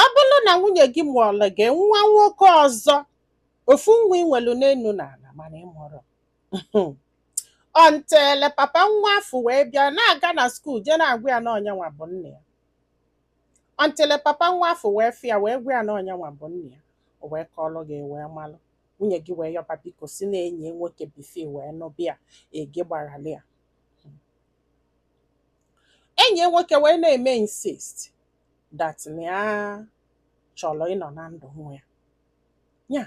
ọ bụrụ na nwunye gị mụọrọ gị nwa nwoke ọzọ ofu nwa i nwelu n'elu na ala mana ị marọ until papa nwa afụ wee bịa na-aga na skuul jee na-agwa ya na ọ nyanwa bụ nna ya until papa nwa afụ wee fụ ya wee gwa ya na ọ nyanwa bụ nna ya o wee kọọrọ gị wee malụ nwunye gị wee yọba biko sị na enyi ya nwoke before i wee nụba ya gị gbaghara ya enyi ya nwoke wee na-eme insist that na ya chọrọ ịnọ na ndụ nwa ya ya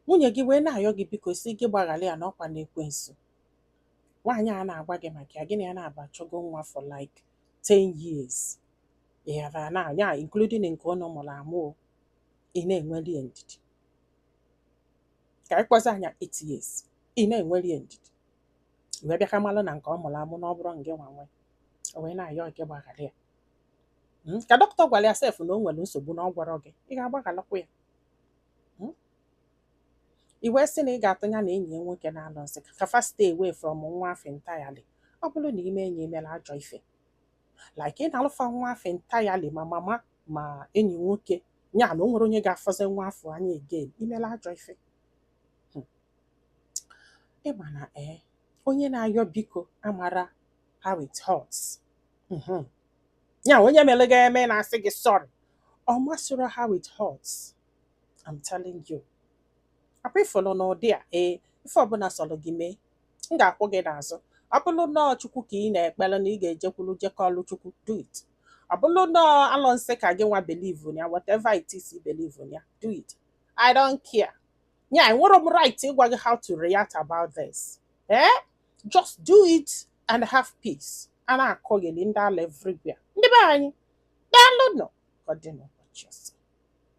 nwunye gị wee na-ayọ gị biko sị gị gbaghara ya n'ọ kwanụ ekwensu nwaanyị a na-agwa gị maka ya gị na ya naabọ achọgo nwa for like 10 years ị ghara na ya including nke ụnụ mụrụ amụ o, ị na-enweli ya ndidi ka anyị kpọzia nya 8 years ị na-enweli ya ndidi i wee bịa ka malụ na nke ọ mụrụ amụ na ọ bụrọ ngị nwa nwe o wee na-ayọ gị gbaghara ya Mm, ka dọkịta gwara ya sef na o nwere nsogbu na ọ gwarọ gị ị ga-agbaghalakwa ya Mm, i wee sị na ị ga-atụ ya na enyi ya nwoke n'alụsị ka fa stay away from nwa afụ entirely ọ bụrụ na i mee nya i mere ajọ ife like ị nalụ fa nwa afụ entirely ma mama ma enyi nwoke ya na o nwerọ onye ga-afụzi nwa afụ anya again i mela ajọ ife hmm. ị ma na ee eh, onye na-ayọ biko amarọ how it hurts hmm. ya onye mere gị eme na-asị gị sorry ọ masịrọ how it hurts I'm telling you ọ kwa ị fụlụ n'ụdị a ee eh, ife ọbụla sọrọ gị mee m ga-akwụ gị n'azụ ọ bụrụ na ọ chukwu ka ị na-ekpere na ị ga-ejekwuru jee kọọlụ chukwu do it ọ bụrụ na ọ alụsị ka gị nwa believe ya whatever it is you believe ya do it I don't care. Yeah, enwerọ m right ịgwa gị how to react about this. Eh? Just do it and have peace. A na-akọgheli, ndị ala everywhere. Ndị be anyị, daalụ nụ, ka ọ dị n'ụbọchị ọzọ.